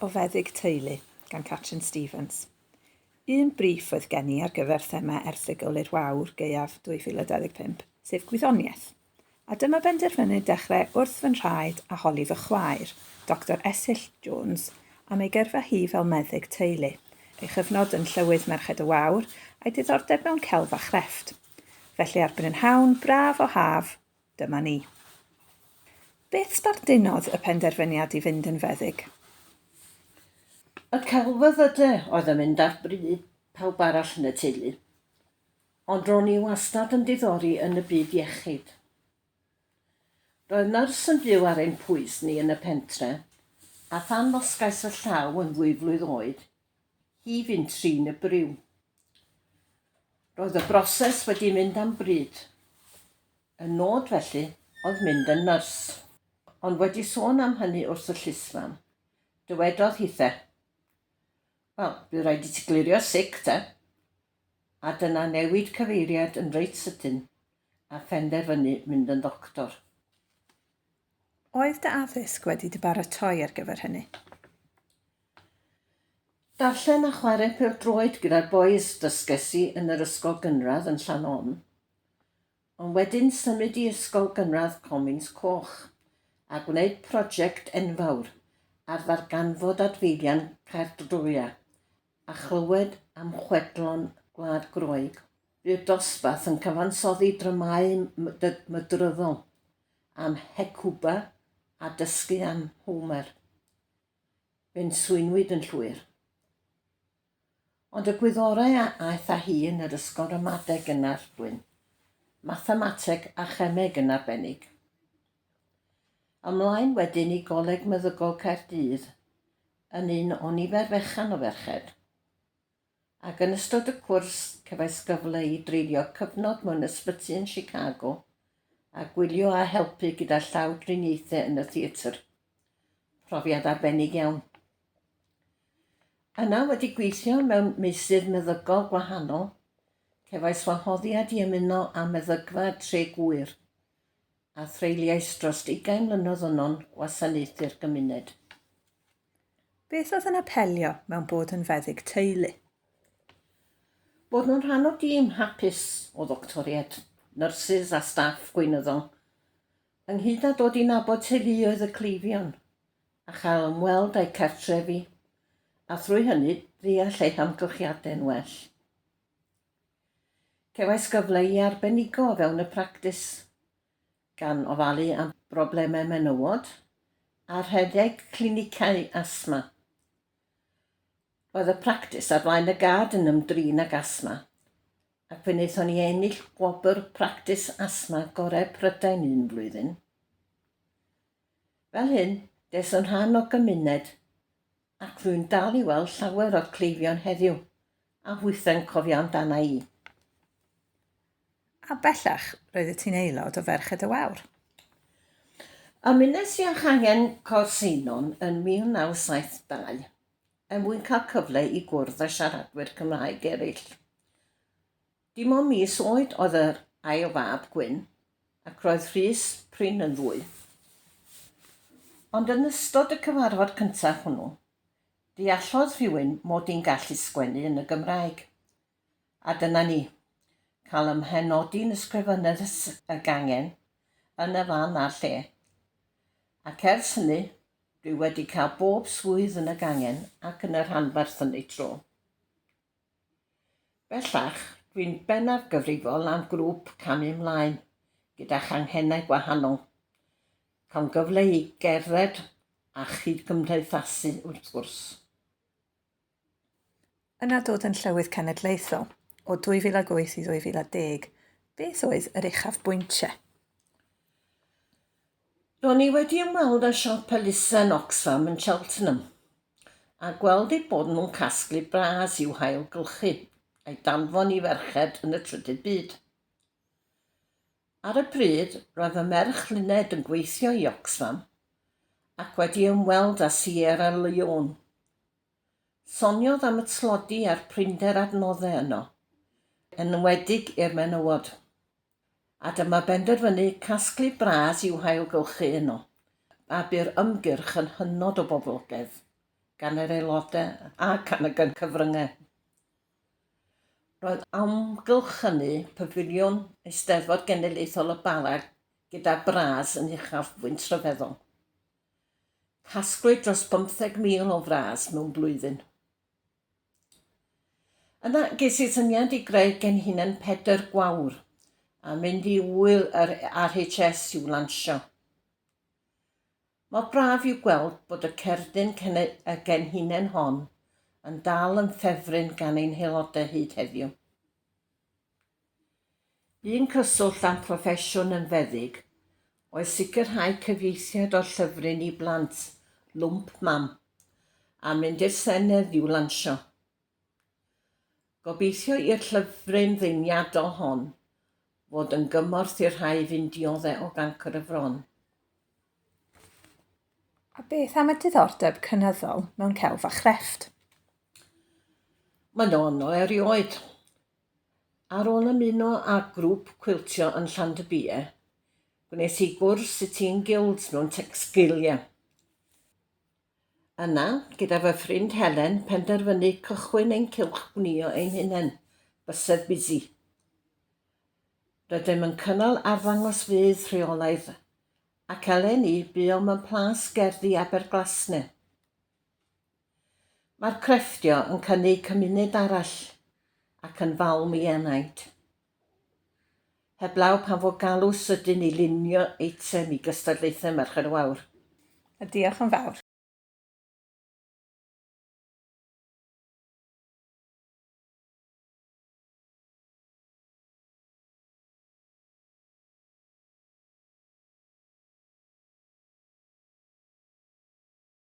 o feddyg teulu gan Catrin Stevens. Un briff oedd gen i ar gyfer thema erthygl i'r Wawr gaeaf 2025, sef gwyddoniaeth. A dyma benderfynu dechrau wrth fy nhraed a holi fy chwaer, Doctor Esill Jones, am ei gyrfa hi fel meddyg teulu, ei chyfnod yn Llywydd Merched y Wawr, a'i diddordeb mewn celf a chrefft. Felly ar brynhawn braf o haf, Dyma ni. Beth sbardunodd y penderfyniad i fynd yn feddyg? Y celfyddydau oedd yn mynd ar bry pawb arall yn y teulu. Ond ro'n i wastad yn diddori yn y byd iechyd. Roedd nyrs yn byw ar ein pwys ni yn y pentre, a phan ddosgais fy llaw yn ddwy flwydd oed, hi fynd trin y briw. Roedd y broses wedi mynd am bryd. Y nod felly oedd mynd yn nyrs. Ond wedi sôn am hynny wrth y llysfam, dywedodd hithe, Wel, bydd rhaid i ti glirio sic, te. A dyna newid cyfeiriad yn reit sydyn a phenderfynu mynd yn ddoctor. Oedd dy addysg wedi dy baratoi ar gyfer hynny? Darllen a chwarae pêl-droed gyda'r bois dysges i yn yr ysgol gynradd yn Llannon. Ond wedyn symud i ysgol gynradd Comins Coch a gwneud prosiect enfawr ar ddarganfod adfeilion Caerdroea a chlywed am chwedlon Gwlad Groeg. Bu'r dosbarth yn cyfansoddi dramâu mydryddol am Hecuba a dysgu am Homer. Fe'n swynwyd yn llwyr. Ond y gwyddorau a aeth â hi yn yr ysgol ramadeg yn Arglwyn, mathemateg a chemeg yn arbennig. Ymlaen wedyn i Goleg Meddygol Caerdydd, yn un o nifer fechan o ferched. ac yn ystod y cwrs cefais gyfle i dreulio cyfnod mewn ysbyty yn Chicago a gwylio a helpu gyda llawdriniaethau yn y theatr. Profiad arbennig iawn. Yna wedi gweithio mewn meysydd meddygol gwahanol, cefais wahoddiad i ymuno â meddygfa Tre Gŵyr, a threuliais dros ugain mlynedd yno'n gwasanaethu'r gymuned. Beth oedd yn apelio mewn bod yn feddyg teulu? Bod nhw'n rhan o dîm hapus o ddoctoriaid, nyrsys a staff gweinyddol, ynghyd â dod i nabod teuluoedd y cleifion a chael ymweld â'u cartrefi, a thrwy hynny ddeall eu hamgylchiadau'n well. Cefais gyfle i arbenigo o fewn y practis, gan ofalu am broblemau menywod a rhedeg clinicau asthma. Roedd y practis ar flaen y gad yn ymdrin ag asthma, ac fe wnaethon ni ennill gwobr Practis Asthma Gorau Prydain un flwyddyn. Fel hyn, des yn rhan o gymuned ac rwy'n dal i weld llawer o'r cleifion heddiw a hwythau'n cofio amdana i. A bellach, roeddet ti'n aelod o Ferched y Wawr. Ymunes i â Changen Côr Seinon yn 1972 er mwyn cael cyfle i gwrdd â siaradwyr Cymraeg eraill. Dim ond mis oed oedd yr ail fab, Gwyn, ac roedd Rhys prin yn ddwy. Ond yn ystod y cyfarfod cyntaf hwnnw, deallodd rhywun mod i'n gallu sgwennu yn y Gymraeg. A dyna ni. Cael ym mhenodi'n Ysgrifennydd y sy y gangen, yn y fan a'r lle. Ac ers hynny, dwi wedi cael bob swydd yn y gangen ac yn y rhanbarth yn eu tro. Bellach, dwi'n bennaf gyfrifol am grŵp Camu 'Mlaen gyda Changhennau Gwahanol. Cawn gyfle i gerdded a chyd-gymdeithasu wrth gwrs. Yna dod yn Llywydd Cenedlaethol o 2008 i 2010, beth oedd yr uchafbwyntiau? Ro'n i wedi ymweld â siop elusen Oxfam yn Cheltenham, a gweld eu bod nhw'n casglu bras i'w hailgylchu, a'i danfon i ferched yn y trydydd byd. Ar y pryd, roedd fy merch Luned yn gweithio i Oxfam ac wedi ymweld â Sierra Leone. Soniodd am y tlodi a'r prinder adnoddau yno, yn enwedig i'r menywod. A dyma benderfynu casglu bras i'w hailgylchu yno. A bu'r ymgyrch yn hynod o boblogaidd, gan yr aelodau a gan y gyn-cyfryngau. Roedd amgylch hynny Pafiliwn Eisteddfod Genedlaethol y Bala gyda bras yn uchafbwynt rhyfeddol. Casglwyd dros bymtheg mil o fras mewn blwyddyn. Yna ges i'r syniad i greu genhinen Pedr Gwawr a mynd i ŵyl yr RHS i'w lansio. Mor braf yw gweld bod y cerdyn y genhinen hon yn dal yn ffefryn gan ein haelodau hyd heddiw. Un cyswllt â'n proffesiwn yn feddyg oedd sicrhau cyfieithiad o'r llyfryn i blant, Lwmp Mam, a mynd i'r Senedd i'w lansio. Gobeithio i'r llyfryn ddeniadol hon fod yn gymorth i'r rhai fu'n diodde' o gancr y fron. A beth am y diddordeb cynyddol mewn celf a chrefft? Mae'n anodd erioed. Ar ôl ymuno â grŵp cwiltio yn Llandybie, gwnes i gwrs Sitting Guilds mewn Textilia. Yna, gyda fy ffrind Helen, penderfynu cychwyn ein cylch gwnïo ein hunain, Bysedd Busy. Rydym yn cynnal arddangosfeydd rheolaidd, ac eleni buom ym Mhlas Gerddi Aberglasne. Mae'r crefftio yn cynnig cymuned arall ac yn falm i enaid. Heblaw pan fo galw sydyn i lunio eitem i gystadlaethau Merched y Wawr. A diolch yn fawr.